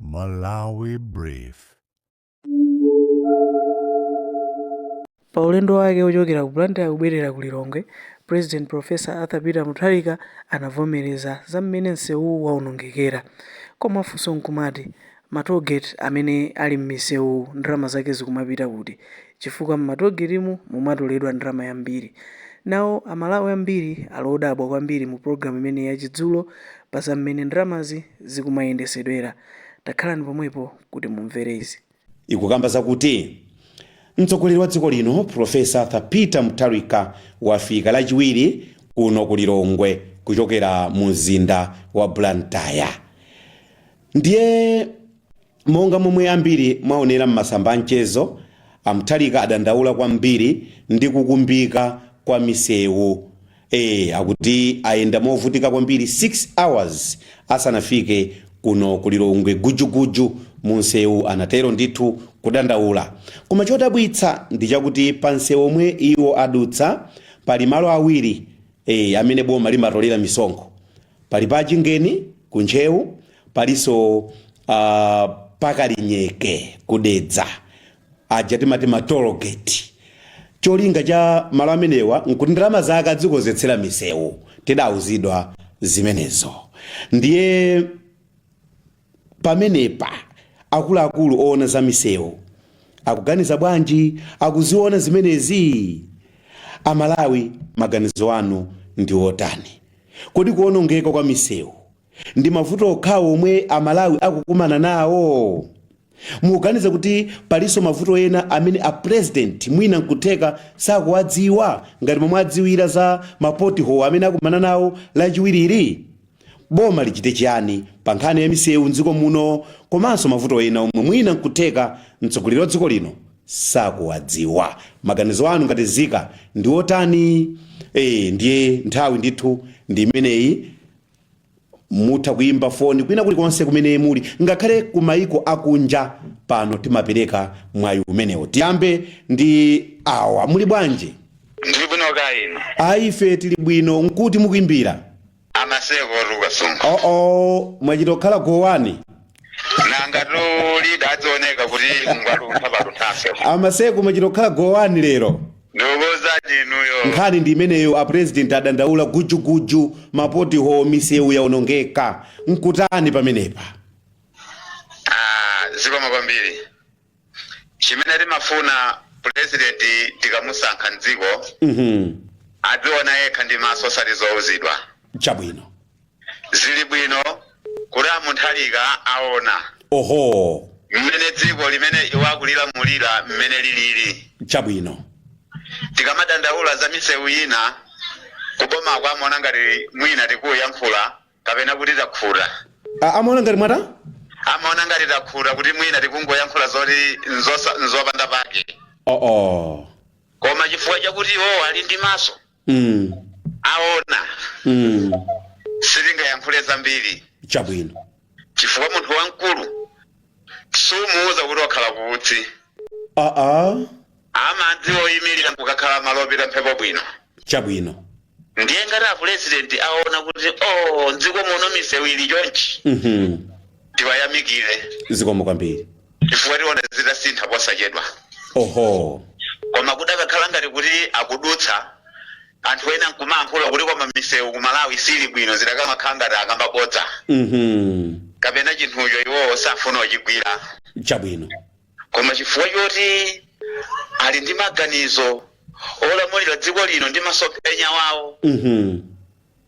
Malawi Brief. Pa ulendo wake wochokera ku Blantyre kubwerera ku Lilongwe, President Prof. Arthur Peter Mutharika anavomereza za mmene nsewuwu waonongekera. Koma funso nkumati, ma toll gate amene ali mmisewuwu ndalama zake zikumapita kuti? chifukwa m'matogetimu mumatoledwa ndalama yambiri. Nawo a Malawi ambiri ali odabwa kwambiri mu program imene ya chidzulo pa za mmene ndalamazi zikumayendesedwera. Takhalani pomwepo kuti mumvere izi. ikukamba zakuti mtsogoleri wa dziko lino Professor Arthur Peter Mutharika wafika lachiwiri kuno ku Lilongwe kuchokera mu mzinda wa Blantyre ndiye. Monga momwe ambiri mwaonera m'masamba a mchezo, a Mutharika adandaula kwambiri ndi kukumbika kwa misewu. Ee, akuti ayenda movutika kwambiri 6 hours asanafike kuno ku Lilongwe gujuguju mu nsewu anatero ndithu kudandaula. Koma chodabwitsa ndi chakuti pa nsewu omwe iwo adutsa pali malo awiri ee amene boma limatolera misonkho. Pali pa Chingeni ku Ntcheu, palinso ah, pa Kalinyeke ku Dedza, aja timati ma toll gate. Cholinga cha malo amenewa nkuti ndalama zake adzikonzetsera misewu, tidauzidwa zimenezo. Ndiye pamenepa akuluakulu owona za misewu akuganiza bwanji? Akuziwona zimenezi? Amalawi maganizo anu ndi otani? Kodi kuwonongeka kwa misewu ndi mavuto okhawo omwe amalawi akukumana nawo? Mukuganiza kuti palinso mavuto ena amene a president mwina nkutheka sakuwadziwa ngati momwe adziwira za ma pot hole amene akumana nawo lachiwirili? Boma lichite chiyani pa nkhani ya misewu m'dziko muno komanso mavuto ena omwe mwina nkutheka mtsogoleri wa dziko lino sakuwadziwa. Maganizo anu ngati nzika ndi otani? Eee ndiye nthawi ndithu ndi imeneyi. Mutha kuimba foni kwina kulikonse kumene muli ngakhale ku maiko akunja. Pano timapereka mwayi umenewo. Tiyambe ndi awa, muli bwanji? Ndili bwino kaya inu? Ayi ife tili bwino. Nkuti mukuimbira? amaseko luka sunga oh oh mwachita kukhala go wani nanga tu lidadzaoneka kuti ngwaluntha palunthafe a Maseko mwachita kukhala go wani lero ndikuuzani inuyo nkhani ndi imeneyo a president adandaula gujuguju mapotiho misewu yaonongeka nkutani pamenepa Ah, zikomo kwambiri chimene timafuna president tikamusankha mdziko adziona yekha ndi maso osati zouzidwa chabwino zili bwino kuti a mutharika aona oho mmene dziko limene iwo akulilamulira mmene lilili chabwino tikamadandaula za misewu ina kubomako amaona ngati mwina tikuyankhula kapena kuti takhuta A- amaona ngati mwata amaona ngati takhuta kuti mwina tikungoyankhula zoti nzosa- nzopanda pake oo koma chifukwa chakuti iwowo ali ndi maso mm. aona mm. sitingayankhule zambiri chabwino chifukwa munthu wamkulu sumuwuza kuti wakhala kuutsi aa amadziwa kuyimirira nkukakhala malo opita mphepo bwino chabwino ndiye ngati apulezidenti aona kuti o mdziko muno misewu ili chonchi Mhm. tiwayamikire zikomo kwambiri chifukwa tiona zitasintha posachedwa oho koma kudakakhala ngati kuti akudutsa anthu ena nkumayankhula kuti koma misewu ku malawi sili bwino zidakamakhala ngati akamba bodza Mhm. kapena chinthucho iwowo safuna kuchigwira chabwino Koma chifukwa choti ali ndi maganizo olamulira dziko lino ndi masomphenya awo,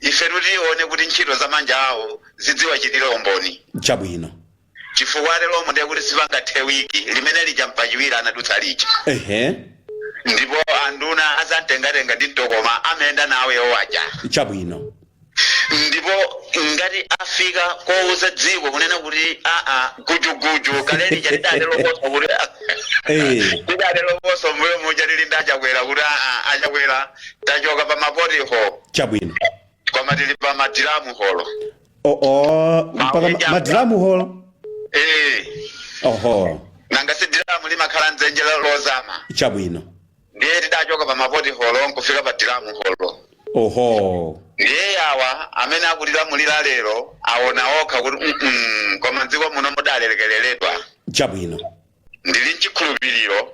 ifetu tione kuti ntchito za manja awo zidziwachitira umboni. Chabwino. Chifukwa ateromo ndiye kuti sipangathe wiki limene lija Mpachiwiri anadutsa lija. Ehe. Ndipo anduna a zamtengatenga ndi mtokoma amayenda nawo iwowo aja. Chabwino. ndipo ngati afika kouza dziko kunena kuti aa gujuguju kale lija tidanenaponso kuti Eh. tidanenaponso mbuyo muja tili ndi a chakwera kuti aa a chakwera tachoka pa mapoti holo chabwino koma tili pa madiramu holo oo mpaka ma- madiramu holo ee oho nanga si diramu limakhala dzenje lozama chabwino ndiye tidachoka pa mapoti holo nkufika pa diramu holo oho ndiye awa amene akutilamulira lero aona okha kuti "Mm-mm, koma mdziko muno mudalekereredwa chabwino ndili nchikhulupiriro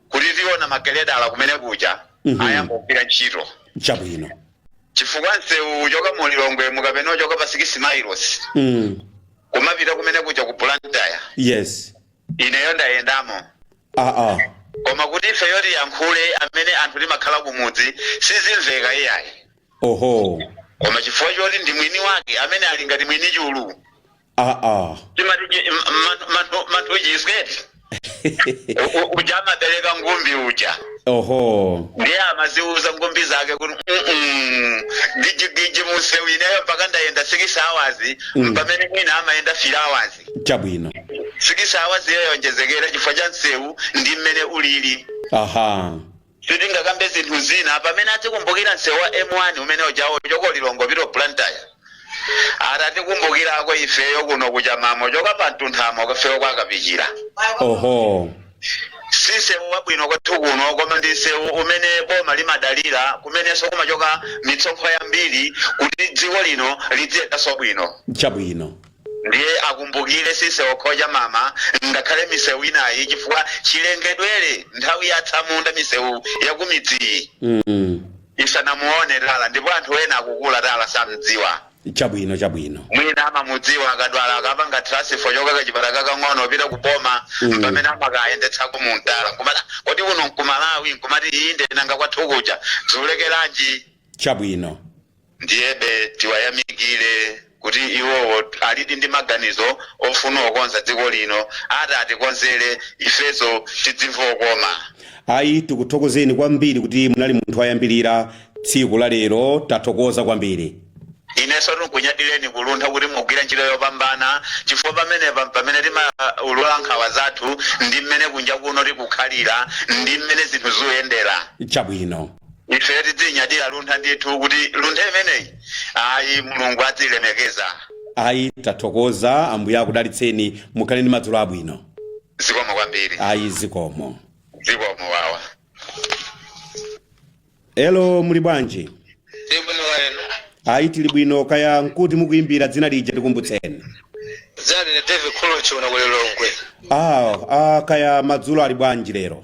kuti tiona mageledala kumene kuja Mhm. ayamba kugwira ntchito chabwino chifukwa msewu uchoka mu lilongwemu kapena uchoka pa 6 miles mm. kumapita kumene kuja ku blantyre yes ineyo ndayendamo aa koma kuti ifeyo tiyankhule amene anthu timakhala kumudzi sizimveka iyayi oho koma chifukwa choti ndi mwini wake amene ali ngati mwini chulu timati manthu chiswe eti uja amabereka ngumbi uja oho ndiye amaziuza ngumbi zake kuti "Mm-mm, gijigiji mumsewu ineyo mpaka ndayenda 6 hours Mm. pamene mwina amayenda 3 hours chabwino sikisi awazi yayonjezekera chifukwa cha msewu ndi mmene ulili aha sitingakambe zinthu zina pamene adzikumbukira msewu wa m1 umene ujawo choko lilongwe pito blantyre atatikumbukirako ifeyo kuno kuchamamo choka pa mtunthama kafeyo kwakapichira oho si msewu wabwino kwathu kuno koma ndi msewu umene boma limadalira kumenenso kumachoka mitsonkho yambiri kuti dziko lino lidziyendanso bwino chabwino Ndiye akumbukile si msewu okha cha mama ngakhale miseu inayi chifukwa chilengedwele nthawi ya atsamunda miseu yakumidziyi isanamuone tala ndipo anthu ena akukula tala samdziwa. chabwino chabwino. mwina amamudziwa akadwala akapanga transfer choka kachipatala kakang'ono opita ku boma mpamene amakayendetsako mu tala nkumati "Ah, kodi kuno nkumalawi nkumati inde nanga kwathu kuja zulekelanji Chabwino. Ndiyebe tiwayamikile kuti iwowo alidi ndi maganizo ofuna okonza dziko lino ati atikonzele ifeso tidzimva okoma. Ayi tikuthokozeni kwambiri kuti munali munthu wayambilira tsiku la lero tathokoza kwambiri. Ineso tinkunyadileni ku luntha kuti mugwira ntchito yopambana chifukwa pamenepa mpamene timaulula nkhawa zathu ndi mmene kunja kuno tikukhalira ndi mmene zinthu zuyendera. Chabwino. ife tidzinyadira luntha ndithu kuti luntha imeneyi ayi mulungu adzilemekeza ayi tathokoza ambuye akudalitseni mukhale ndi madzulo abwino zikomo kwambiri ayi zikomo zikomo wawa elo muli bwanji ndili bwino kaya inu ayi tili bwino kaya nkuti mukuyimbira dzina lija tikumbutseni dzina ndine david kholochi uno kulilongwe ah, ah, kaya madzulo ali bwanji lero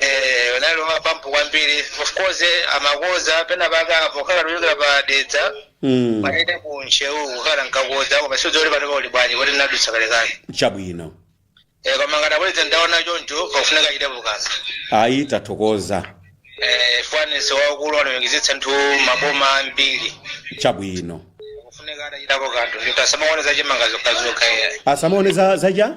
Eh, unali wamapampu kwambiri of course eh, amakonza pena paka pokhala kuchokera pa dedza mm. pamene ku ntcheu kukhala nkakonza koma sindidziwa kuti pano pali bwanji kuti ndinadutsa kalekale chabwino Eh, koma ngati abweza ndaona choncho pakufunika achitepo kanthu ayi tathokoza Eh, faniso waukulu anayongezitsa nthu maboma ambiri chabwino kufunika atachitapo kanthu kuti asamaone zachimanga zokhazokha iya asamaone za zaja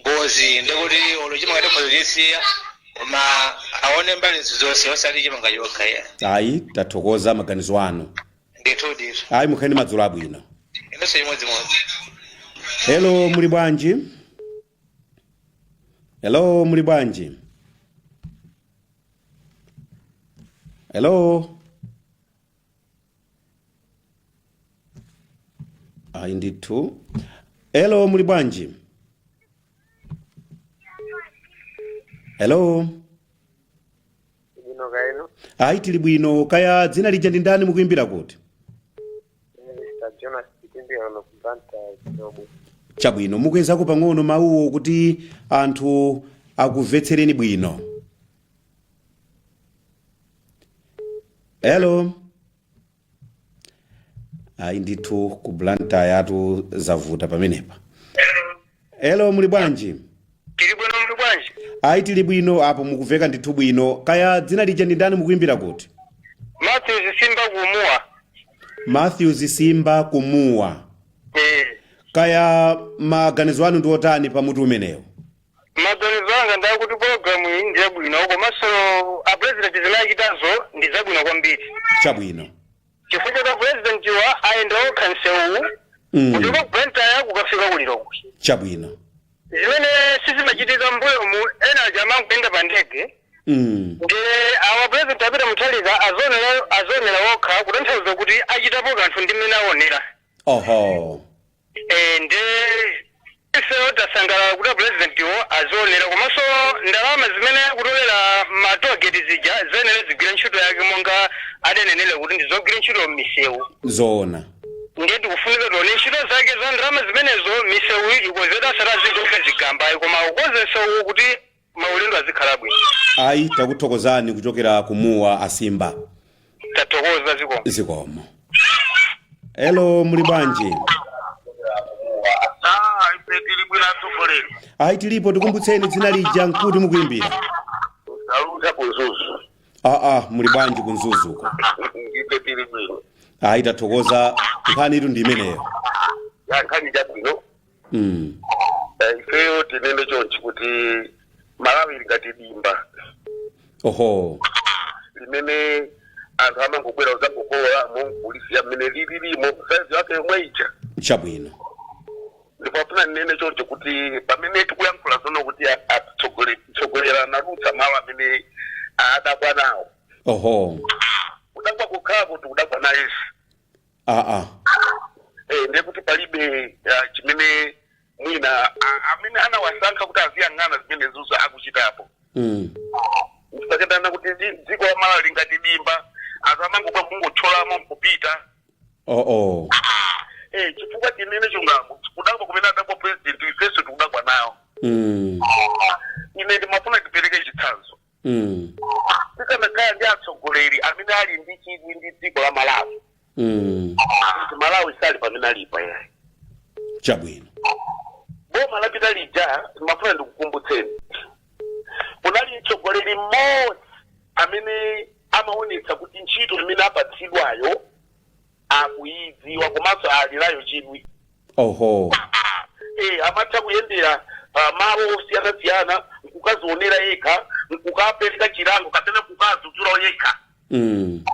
ngozi ndikuti olo chimanga tikhoza chisiya koma aone mbali zonse osati chimanga chokha ya ayi tathokoza maganizo anu ndithu ndithu ayi mukhale ndi madzulo abwino inunso chimodzimodzi hello muli bwanji hello muli bwanji hello ayi ndithu hello muli bwanji hello Bwino kaya inu. ayi tili bwino kaya dzina lija ndi ndani mukuimbira kuti Mr. Jonas Kitindi ono kubanta kidogo. chabwino mukwezeko pang'ono mawuwo kuti anthu akumvetsereni bwino hello ayi ndithu ku blantyre-tu zavuta pamenepa hello muli bwanji tili bwino muli bwanji ayi tili bwino apo mukumveka ndithu bwino kaya dzina lija ndi ndani mukuimbira kuti matthews simba kumuwa matthews simba kumuwa eh kaya maganizo anu ndi otani pa mutu umenewo Maganizo anga ndi oti program iyi ndi yabwino komanso a president zimene achitazo ndi zabwino kwambiri chabwino chifukwa choti president wa ayenda okha msewuwu Mm. kuchoka ku Blantyre kukafika ku Lilongwe chabwino zimene sizimachitika mbuyomu ena aja amangoyenda pa ndege Mm. ndi awa president a Peter Mutharika azionera okha kutanthauza kuti achitapo kanthu ndi mmene aonera oho Eh, nde ifeyo tasangalala kuti apurezidentiwo azionera komanso ndalama zimene akutolera matogeti zija ziyenera zigwire ntchito yake monga adanenera kuti ndizogwira ntchito m'misewu zoona ndiye tikufunika tione ntchito zake za ndalama zimenezo misewu ikonzedwe osati azingoika zigamba ayi koma akonze msewu kuti maulendo azikhala bwino ayi takuthokozani kuchokera ku muwa asimba tathokoza zikomo zikomo elo muli bwanji Ah, ife tili bwino atsogoleri ayi tilipo tikumbutseni dzina lija nkuti mukuimbira aluza ku mzuzu aa muli bwanji ku mzuzuko ife tili bwino ayi tathokoza nkhanitu ndi imeneyo ya chabwino Mm. Eh, ifeyo tinene chonchi kuti malawi ili ngati dimba oho limene anthu amangobwera kudzangokololamo kulisiya mmene lililimo saizi yake yomwe ija chabwino ndipo ndifuna ndinene choncho kuti pamene tikuyankhula pano kuti a- atitsogole- tsogoleri anadutsa malo amene adabwa nawo oho kudabwa kukhala kuti kudabwa nayesu aa eh, ndiye kuti palibe ah, chimene mwina ah, amene anawasankha kuti aziyang'ana zimenezizo akuchitapo mm. sakatana kuti dzi- dziko la malawi lili ngati dimba anthu amangobwera kungothyolamo nkupita oh, oh. eh, chifukwa tinene chungamu kudabwa kumene adabwa president ifenso tikudabwa nawo mm. ine ndimafuna tipereke chitsanzo Mm. tikanakhala ndi atsogoleri amene ali ndi chidwi ndi dziko la malawi Mm. kuti malawi sali pamene alipo yayi Chabwino. boma lapita lija mafuna ndikukumbutseni kunali mtsogoleri mmodzi amene amaonetsa kuti ntchito imene apatsidwayo akuyidziwa komanso ali nayo chidwi oho eh, amatha kuyendera ah, malo osiyanasiyana nkukazionera yekha nkukapereka chilango kapena kukadzudzula yekha mm.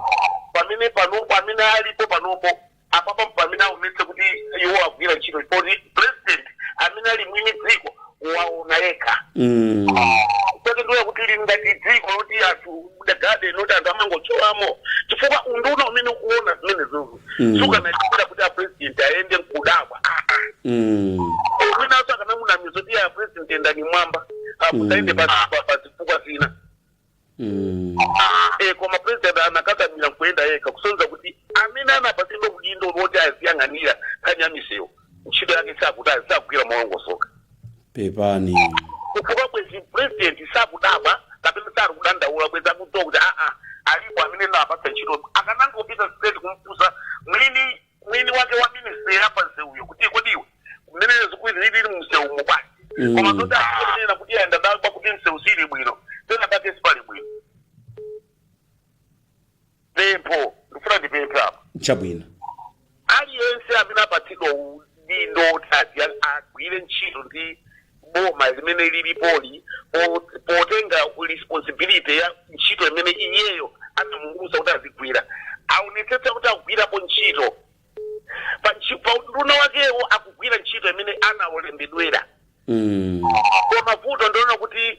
pamene panopo amene alipo panopo apapa pamene aonetse kuti iwo agwira ntchito poti president amene ali mwini dziko waona yekha Mm. kuti ndiye kuti lili ngati dziko loti anthu dagade noti anthu amangotcholamo chifukwa unduna umene ukuona zimenezozo Mm. sukanachitira kuti apresident ayende nkudabwa Mm. mwinanso akanamunamiza kuti apresident yendani mmwamba Mm. musayende pa pa- pa zifukwa zina Mm. e koma president anakakamira nkuyenda yekha kusonyeza kuti amene anapatsidwa udindo woti aziyang'anira nkhani ya misewu ntchito yake sakuti sakugwira molongosoka Pepani. chifukwa bwenzi president sakudabwa kapena sakudandaula bwenzi akudziwa kuti aa alipo amene ndinawapatsa ntchito akanangopita straight kumufunsa mwini mwini wake wa ministry ya pa msewuyo kuti kodi iwe mmene zilili mmsewumo basi Mm. koma zoti akunena kuti ayenda adabwa kuti msewu sili bwino pena pake sipali bwino pempho ndifuna ndipemphe apa chabwino aliyense amene apatsidwa udindo oti ati agwire ntchito ndi boma limene lilipoli po- potenga responsibility ya ntchito imene iyeyo anamuuza kuti azigwira aonetsetse kuti akugwirapo ntchito pa ntchi- pa unduna wakewo akugwira ntchito imene anawalembedwera Mm. koma vuto ndiona kuti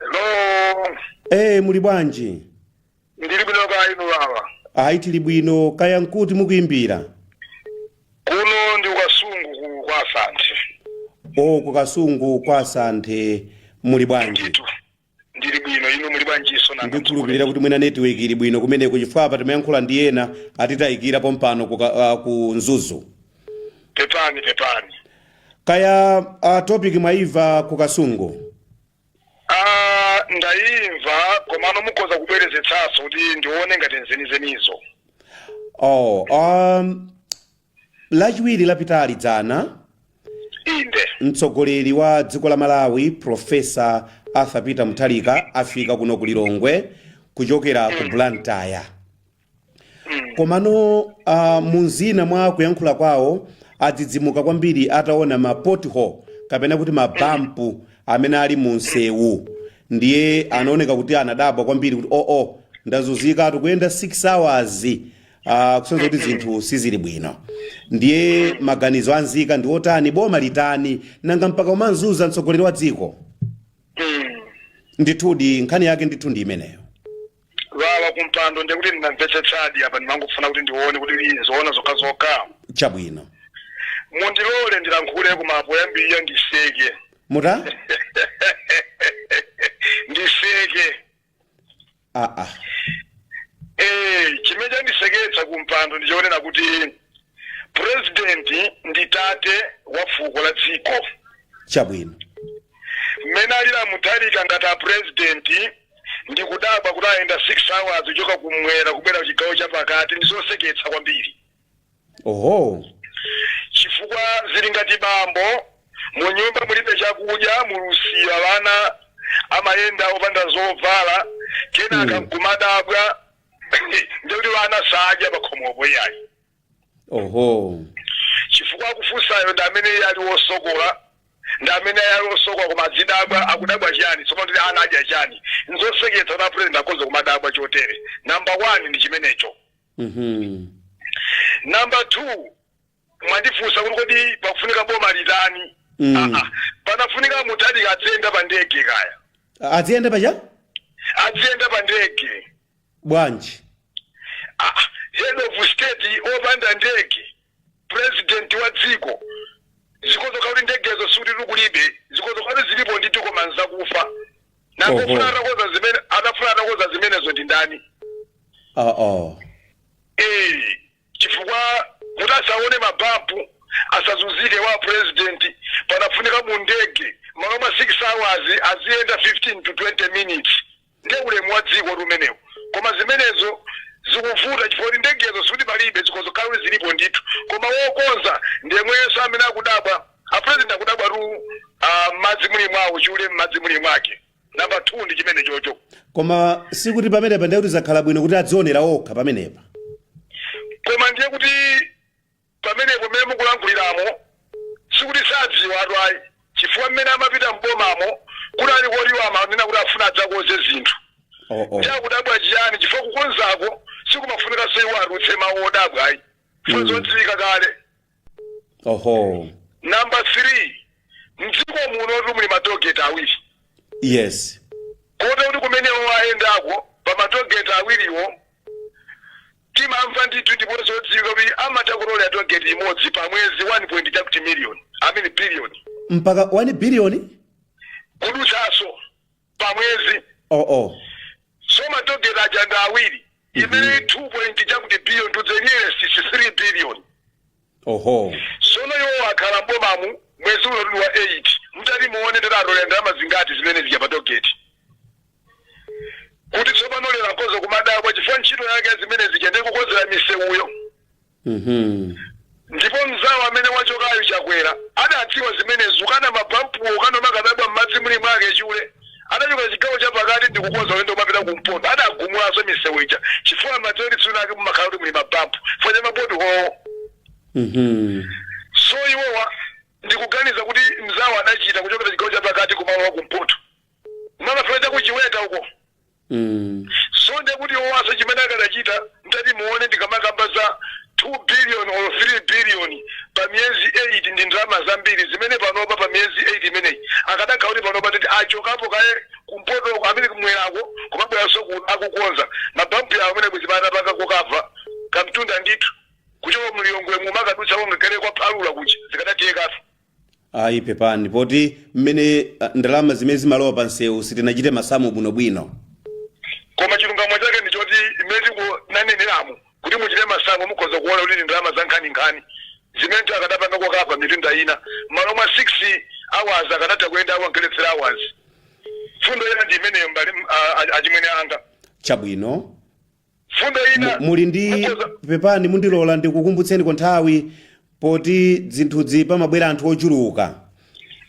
Hello. ee muli bwanji Ndili bwino kaya inu baba. ayi tili bwino kaya nkuti mukuimbira Kuno ndi ku kasungu kwa Santhe. o kukasungu kwa santhe muli bwanji Ndithu. Ndili bwino inu muli bwanjiso nanga. ndikhulupirira kuti mwina network ili bwino kumeneko chifukwa apa timayankhula ndi ena atitayikira pompano ku, ka- ah, ku mzuzu Pepani pepani. kaya uh, topic mwaimva ku kasungu Ah, ndayimva komano mukhoza kubwerezetsanso kuti ndione ngati nzenizenizo oh, um, lachiwiri lapitali dzana inde mtsogoleri wa dziko la malawi profesa arthur peter mutharika afika kuno ku lilongwe kuchokera ku blantyre komano uh, mumzina mwa kuyankhula kwawo adzidzimuka kwambiri ataona ma pothole kapena kuti mabampu amene ali mu msewu ndiye anaoneka kuti anadabwa kwambiri kuti oo oh, oh, ndazunzikatu kuyenda 6 hours uh, kusonza kuti zinthu sizili bwino ndiye maganizo anzika ndi otani boma litani nanga mpaka kumazunza mtsogoleri wa dziko ndithudi nkhani yake ndithu ndi imeneyo wawa kumpando ndekuti ndinamvetsetsadi apa ndimangofuna kuti ndione kuti ndi zoona zokha zokha chabwino mundilole ndilankhule koma poyambirira ndiseke mutani ndiseke aa Eh, chimene chandiseketsa kumpando ndichonena kuti president ndi tate wa fuko la dziko chabwino mmene alira Mutharika ngati a president ndi kudabwa kuti ayenda 6 hours kuchoka kumwera kubwera kuchigawo cha pakati ndi zoseketsa kwambiri oho chifukwa zili ngati bambo mu nyumba mulibe chakudya mulusiya wana amayenda opanda zovala kenaka Mm. nkumadabwa ndekuti vana sadya pakhomopo iyayi oho chifukwa akufunsayo ndi amene iye ali wosokola ndi amene iye ali wosokola kumadzidabwa akudabwa chiyani tsopano kuti ana adya chiyani nzoseketsa kuti apulezidenti akhoza kumadabwa chotere namba one ndi chimenecho Mhm. namba two mwandifunsa kuti kodi pakufunika boma litani Mm. Ah, ah. panafunika Mutharika adziyenda pa ndege kaya adziyenda paja adziyenda pa ndege bwanji Ah, ah. head of state opanda ndege president wa dziko zikhoza kuti ndegezo sikuti kulibe zikhoza kuti zilipo ndithu koma nzakufa Oho. nakufuna atakonza zimene atafuna atakonza zimenezo ndi ndani aa eh chifukwa kuti asaone mabampu asazunzike a president panafunika mu ndege malo mwa 6 hours aziyenda 15 to 20 minutes nde ulemu wa dziko umenewu koma zimenezo zikuvuta chifukwa kuti ndegezo sikuti palibe zikhoza kukhala zilipo ndithu koma wokonza ndi yemwenso amene akudabwa a president akudabwatu ah, m'madzi muli mwawo chule m'madzi muli mwake namba 2 ndi chimenechocho koma sikuti pamenepa ndiye kuti zakhala bwino kuti adzionera okha pamenepa koma ndiye kuti pamenepo mmene mukulankhuliramo sikuti sadziwatu ayi chifukwa mmene amapita mbomamo kuti ali koliwa amanena kuti afuna adzakonze zinthu oh, oh. chakudabwa chiyani chifukwa kukonzako sikumafunika iyeyo atulutse mawu odabwa ayi funa zodziwika kale oho namba 3 mdziko muno ti muli matogeti awiri yes kote kuti kumene awa ayendako pa matogeti awiriwo timamva ndithu ndipo zodziwika kuti amatha kutolera togeti imodzi pa mwezi 1 point chakuti miliyoni amene biliyoni mpaka 1 biliyoni kudutsanso pa mwezi oh, oh. so matogeti aja ndi awiri ndiye 2 point chakuti billion to the nearest is 3 billion oho sono iwo akhala mbomamu mwezi uno tuli wa 8 mutati muone ndiye atolera ndalama zingati zimene zija pa togeti kuti tsopano lero akhoza kumadabwa chifukwa ntchito yake zimene zija ndi kukonzera misewuyo Mhm. ndipo mzawo amene wachokayo chakwera adadziwa zimenezo kena mabampuwo kena mukamadabwa m'madzi muli mwake chule adachoka chigawo cha pakati ndi kukonza ulendo kumapita kumpoto adagumulanso misewu ija chifukwa madziwo ndi tsiku lake mumakhala kuti muli mabampu chifukwa cha maboti owo Mhm. so iwowa ndikuganiza kuti mzawo adachita kuchokera chigawo cha pakati kumalowa kumpoto kumafika cha kuchiweta uko Mm. so nde kuti iwonso chimene akadachita mtati muone ndikamakamba za 2 billion or 3 billion pa miyezi 8 ndi ndalama zambiri zimene panopa pa miyezi 8 imeneyi akadakhala kuti panopa titi achokapo kaye kumpoto uko amene kumwerako kumabweranso ku- akukonza mabampu yawo umene bwezi atakava kokava kamtunda ndithu kuchoka mu lilongwe mumakadutsa wongakhale kwa phalula kuja zikadathekanso ayi pepani poti mmene ah, ndalama zimene zimalowa pa msewu sitinachite masamu bwinobwino koma chilungamo chake ndi choti imene tikunaneneramu kuti muchite masamu mukhoza kuona kuti ndi ndalama za nkhaninkhani zimene ti akadapangako kapena mitunda ina malo mwa 6 hours akadatha kuyenda awangeletsera hours mfundo ina ndi imeneyo mbali ah, ah, achimwene anga chabwino mfundo Mu- ina muli ndi mukhoza- pepani mundilole ndikukumbutseniko nthawi poti zinthuzi pamabwera anthu ochuluka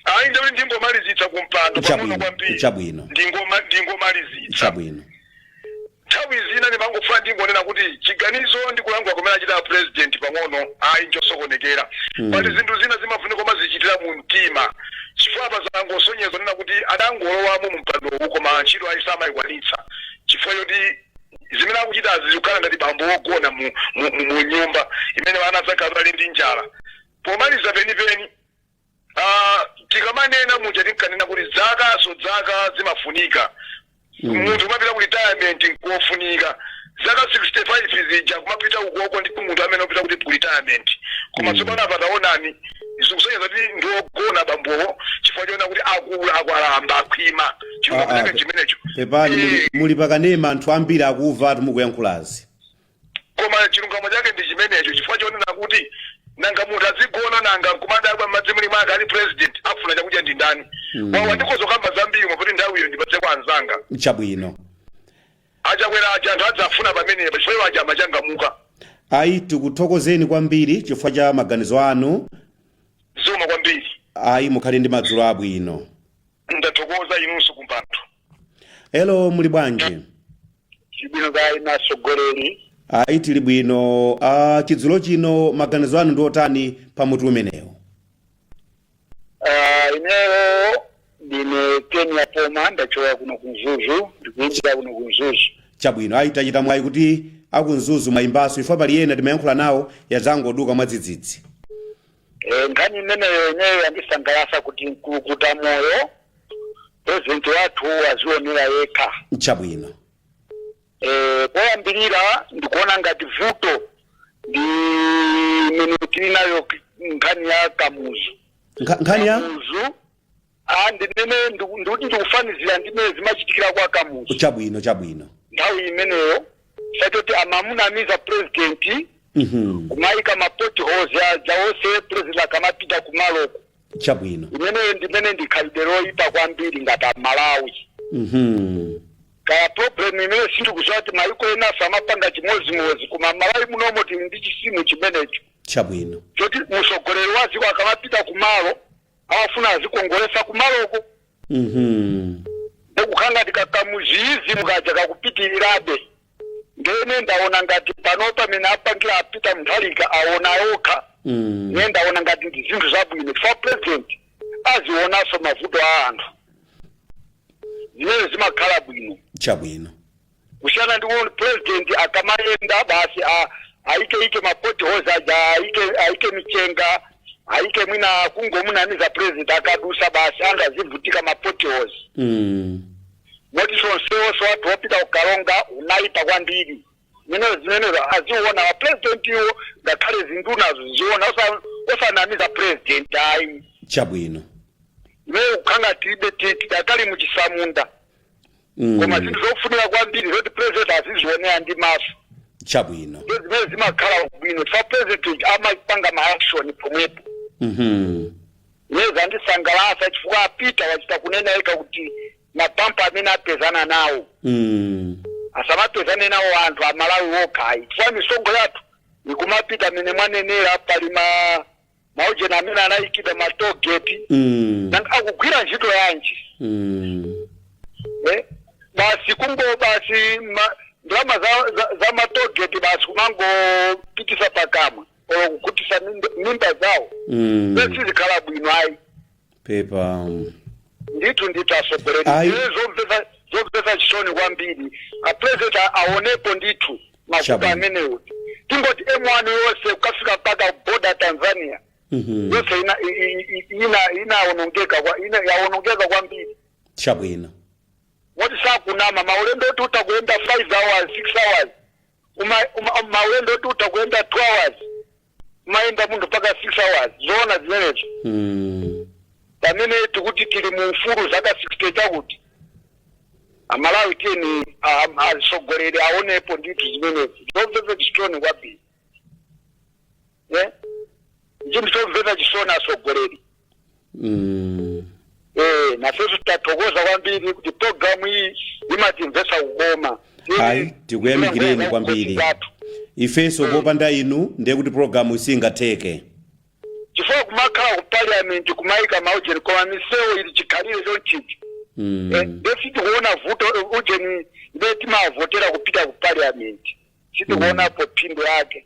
ayi ndikuti ndingomalizitsa kumpando Chabwino, pang'ono kwambiri chabwino. Ndingoma- ndingomalizitsa chabwino nthawi zina ndimangofuna ndingonena kuti chiganizo ndi kulankhula kumene achita president pang'ono ayi nchosokonekera pali zinthu zina zimafunika umazichitira mu mtima chifukwa pazangosonyeza nena kuti adangolowamo mu mpandowu koma ntchito ayi samayikwanitsa chifukwa choti zimene akuchitazi zikukhala ngati bambo wogona mu, mu, mu, mu nyumba imene ana akhala ali ndi njala pomaliza penipeni ah, tikamanena muja tinkanena kuti zakanso zaka zimafunika munthu umapita ku retirement nkofunika zaka 65 zija kumapita ukoko ndi munthu amene upita kuti ku retirement koma tsopano apa taonani zikusonyeza kuti ndi ogona bambowo chifukwa choona kuti akula akwalamba akhwima chuma Ah, ah, kunaka pe- chimenecho pepani muli, Eh, muli pakanema anthu ambiri akuva ati mukuyankhulazi koma chilungamo chake ndi chimenecho chifukwa chonena kuti nanga munthu azigona nanga kumadabwa madzi muli mwake ali president afuna chakudya ndi ndani wawa ndikhoza kukamba zambiri koma kuti nthawiyo ndipatse kwa anzanga chabwino achakwera aja anthu adzavuna pamenepa chifukwa iwo aja amachangamuka ayi tikuthokozeni kwambiri chifukwa cha maganizo anu zikomo kwambiri ayi mukhale ndi madzulo abwino ndathokoza inunso kumpando hello muli bwanji tili bwino kaya atsogoleri ayi tili bwino uh, chidzulo chino maganizo anu ndi otani pa mutu umenewo Ah, ineyo ndine kenya poma ndachoka kuno ku Mzuzu ndikuimbira kuno ku Mzuzu chabwino ayi tachita mwayi kuti aku Mzuzu mwayimbanso chifukwa pali ena timayankhula nawo yadzangoduka mwadzidzidzi Eh, nkhani imeneyo ineyo yandisangalatsa kuti nkululutamoyo purezidenti wathu wazionera yekha chabwino Eh, poyambirira ndikuona ngati vuto ndi imene tili nayo k- nkhani ya Kamuzu Nkha- nkhani ya Kamuzu Ah, ndimene ndiku- ndikuti ndikufanizira ndi mmene zimachitikira kwa Kamuzu chabwino chabwino nthawi imeneyo zoti amamunamiza purezidenti Mhm. kumayika ma potholes aja onse purezidenti akamapita kumaloko chabwino imeneyo ndimene ndi khalidwe loyipa kwambiri ngati Amalawi Mhm. kaya problem imene sindikuziwa kuti mayiko enanso amapanga chimodzimodzi koma Malawi munomo tili ndi chizimu chimenecho chabwino choti mtsogoleri wa dziko akamapita kumalo amafuna azikongoletsa kumaloko Mhm. ndikukhala ngati ka Kamuzuizimu kaja kakupitirirabe ndene ndaona ngati pano mmene apangira apita mtunda wawo aona yokha Mm. ne ndaona ngati ndi zinthu zabwino chifukwa president azionanso mavuto a anthu zimene zimakhala bwino Chabwino. kusiyana ndi kuti president akamayenda basi a- aike ike ma potholes aja aike aike michenga aike mwina kungomunamiza president akadusa basi anthu azivutika ma potholes Mm. moti msewu wathu wopita ku Karonga unayipa kwambiri zimene zimenezo aziona a president iwo ngakhale ndunazo ziziona osa- osanamiza president ayi chabwino imeneyo kukhala ngati tibe tidakali muchitsamunda Mm. koma zinthu zofunika kwambiri zoti president azizionera ndi maso chabwino ndiye zimene zimakhala bwino chifukwa president amapanga ma action pomwepo Mhm. nde zandisangalatsa chifukwa apita wachita kunena yekha kuti mabampa amene apezana nawo Mm. asamapezane nawo anthu aMalawi okha ayi chifukwa misonkho yathu ikumapita mene mwanenera pali ma maujeni amene anayikidwa ma toll gate Mm. nanga akugwira ntchito yanji Mm. Eh, basi kungo basi ma- ndalama za, za, za matogeti basi kumangopitisa pakamwa olo kukhutisa mimba- mimba zawo Mm. sizikhala bwino ayi pepa ndithu ndithu atsogoleri Ayi. ndiye zomvetsa zomvetsa chisoni kwambiri apurezidenti aonepo ndithu mavuto Chabwino. amenewo tingoti M1 yonse kukafika mpaka boda Tanzania Mhm. yonse ina- i- i- i- ina- inaonongeka kwa- ina- yaonongeka kwambiri chabwino moti sakunama maulendo oti utakuenda 5 hours 6 hours Uma- uma- maulendo oti utakuenda 2 hours umayenda munthu mpaka 6 hours zoona zimenezo Mm. pamene tikuti tili mu ufulu zaka 60 chakuti amalawi tiyeni a- a- atsogoleri aonepo ndithu zimenezi zomvetsa chisoni kwambiri ndi chinthu chomvetsa chisoni atsogoleri Mm. Eh, nafeso tathokoza kwambiri kuti programu iyi imatimvesa kukoma Ayi, tikuyamikireni kwambiri. ifenso popanda inu ndiye kuti programu singatheke chifukwa kumakhala ku parliament kumayika maujeni koma misewu ili chikhalire chonchichi Mm. nde sitikuona vuto eh, ujeni imene timavotera kupita ku parliament sitikuonapo phindu yake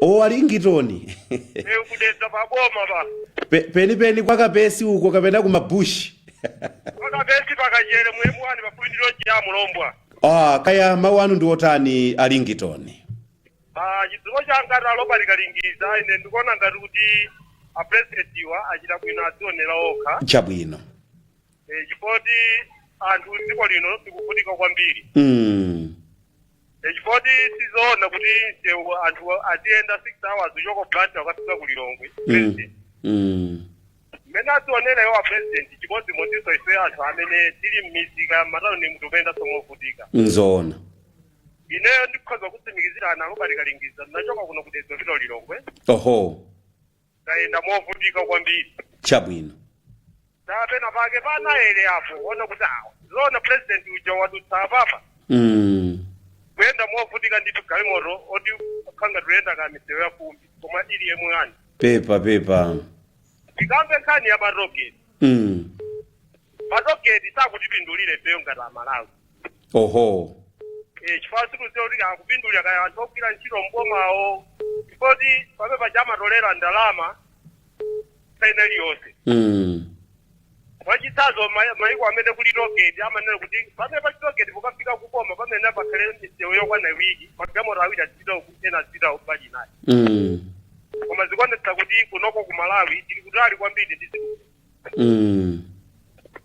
o alingitoni Eh, ku Dedza pa boma pa Pe- penipeni kwa kapesi uko kapena kumabushi pakapesi pa Kachere mu M1 pafupi ndi loji ya mulombwa ah, kaya mawu anu ndi otani alingitoni Ah, chidziwo changa a Robert Kalindiza ine ndikuona ngati kuti apresidentiwa achita bwino adzionera okha chabwino Eh, chifoti anthu m'dziko lino tikuvutika kwambiri mm. chifoti sizoona kuti msewu anthu aziyenda 6 hours kuchoka Blantyre kukafika ku lilongwe Mm. Mm. mmene adzionera iwo a president chimodzimodzinso ife anthu amene tili m'misika matano ni mmene timayendanso movutika Nzoona. ineyo ndikhoza kutsimikizira a Robert Kalindiza ndinachoka kuno ku Dedza kupita ku Lilongwe Oho. tayenda movutika kwambiri chabwino ndi pena pake pa Nathenje apo kuona kuti awa zona president uja wadutsa apapa mm. kuyenda movutika ndithu galimoto ngati kuti ikuyenda ka msewu ya fumbi koma ili M1 pepa pepa tikambe nkhani ya matogeti mm. matogeti sakutipindulira ifeyo ngati amalawi oho Eh, chifukwa sitikuziwa kuti akupindula kaya anthu ogwira ntchito mbomawo chifukwa choti pamene paja amatolera ndalama tsiku lina lililonse mm. mwachitsanzo ma- maiko amene kuli tolgeti amanena kuti pamene pali tolgeti pokafika pompo pamene pakhale misewu yokwana iwiri magalimoto awiri azipita uku ena azipita mbali inayi mm. koma zikuonetsa kuti kunoko ku malawi tili kutali kwambiri ndi zinthu Mm.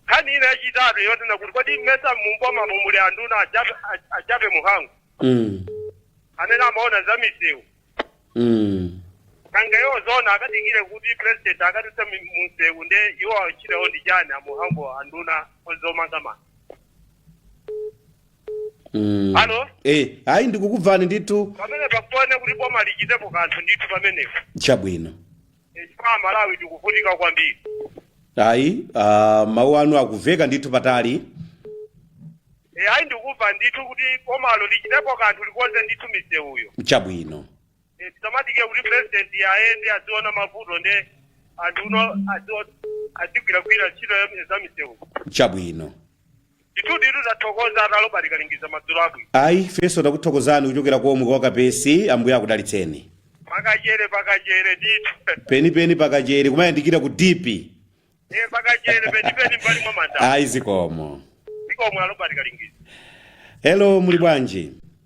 nkhani ina yachitatu yonena kuti kodi mmesa mumbomamo muli anduna a Jappie a- a Jappie Mhango Mm. amene amaona za misewu Mm. nanga iwo zona akadikire kuti president akadutse mi- munsewu nde iwo achitepo ndi ndani a Mhango nduna ya zomangamanga Mm. Alo? Eh, ayi ndikukumvani ndithu pamene pakuone kuti boma lichitepo kanthu ndithu pamenepo chabwino. chifukwa amalawi tikuvutika kwambiri ayi uh, mawu anu akuveka ndithu patali e, ayi ndikumva ndithu kuti bomalo lichitepo kanthu likonze ndithu misewuyo chabwino e, tisamadikire kuti president ayende aziona mavuto nde anthuwo azigwiragwira ntchito ya- za misewu chabwino Ndithuditu tathokoza a Robert Kalingiza madzulo abwino. Ayi, ifenso takuthokozani kuchokera komwe kwa Kapesi, Ambuye akudalitseni. Pakachere pakachere ndithu. Penipeni pakachere kumayandikira ku dipi. Eh pakachere penipeni mbali mwa manda. Ayi zikomo. Zikomo a Robert Kalingiza. Hello, muli bwanji?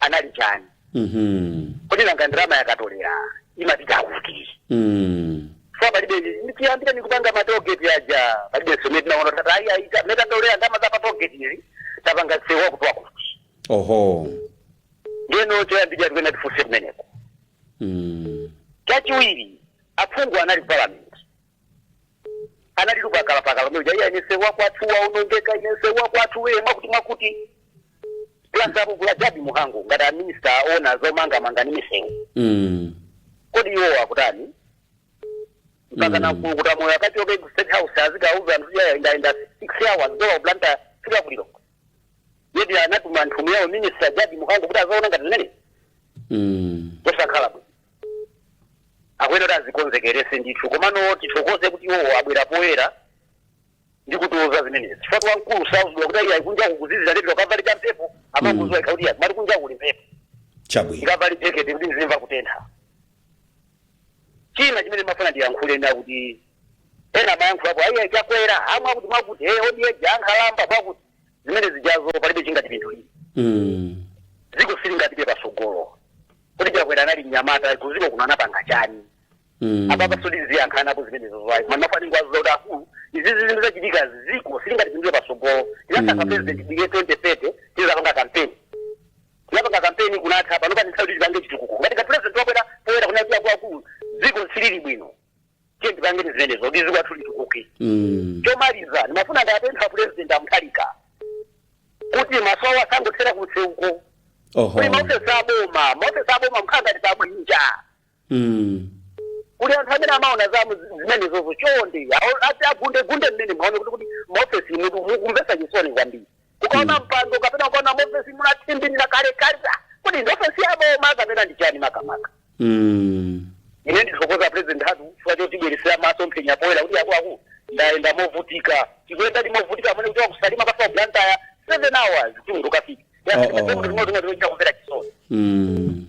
anali chani Mhm. kodi nanga ndalama akatolera imapita kuti Mm. so palibe nichiyambire nikupanga matogeti aja palibe zomwe tinaona ata ayi ayi ta- mmene tatolera ndama za patogeti izi tapanga nsewu wakuti wakuti Oho. ndeno choyambirira tikuyenera tifunse kumeneko Mm. chachiwiri aphungu anali ku parliament anali yakaliyakali mja iyeyo nsewu wakwathu waonongeka ine nsewu wakwathu weye mwakuti mwakuti plus apo kuli a Jappie Mhango ngati a minister ona zomangamanga ndi misewu Mm. kodi iwo akutani mpaka Mm. wankulu kuti a moyo akachoke ku state house azikauza anthu kuti ayendayenda six hours dala Blantyre fika kuliro yet anatuma nthumu yawo minister Jappie Mhango kuti azaona ngati zimene Mm. zosakhala bwino akuyenera kuti azikonzekerese ndithu komano tithokoze kuti iwowo abwera poyera ndi kutiuza zimenezi chifukwa kuti wamkulu sauzidwa kuti ayi kunja kukuzizira ndiye pita kavale cha mphepo amangoziwa yekha kuti mati kunja kuli mphepo chabwino ndikavale jekete kuti ndizimva kutentha china chimene mafuna ndiyankhule ndi chakuti ena amayankhulapo ayi Chakwera wamwakuti mwakuti hey old age ankhalamba mwakuti zimene zijazo palibe chingatipindulire Mm. dziko silingapite pasogolo kodi Chakwera anali mnyamata kudziko kuno anapanga chani Mm. apapa sodi ziyankhanapo zimenezo zwayi manafanira kwaziza kuti akulu izi zinthu zachitika dziko silingatipindulire patsogolo tinasaka Mm. president bige twenty thirty tidzapanga kampeni tinapanga kampeni kunatha pano pano ndi nthawi yoti tipange chitukuko ngati kuti president wabwera poyera kunena kuti akuluakulu dziko silili bwino tiyeni tipange zimenezo kuti dziko lathu litukuke Mm. chomaliza ndimafuna ndiwapemphe pulezidenti a Mutharika kuti masowa asangothera kunseuko Oho. kuli maofesi aboma maofesi aboma akukhala ngati pabwinja Mm. kuli anthu amene amaona za mu- zimenezozo chonde awo- ati agundegunde mmene muaone kuti kuti maofesimutu mukumvetsa chisoni kwambiri kukaona mpando kapena kukaona mofesi munathimbirira kale kale ah, kuti ndi ofesi ya boma kapena ndi chani makamaka Mm. ine ndithokoza president hatu chifukwa chotibweretsera masomphenya poyera kuti akuluakulu ndayenda movutika tikuyendadi movutika amene kuti wa ku Salima kukafika Blantyre seven hours kuti munthu ukafike Oh, oh. ndimozimozimochita kumvera chisoni Mm.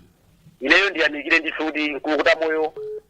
ineyo ndiyamikire ndithu kuti mkulukuta moyo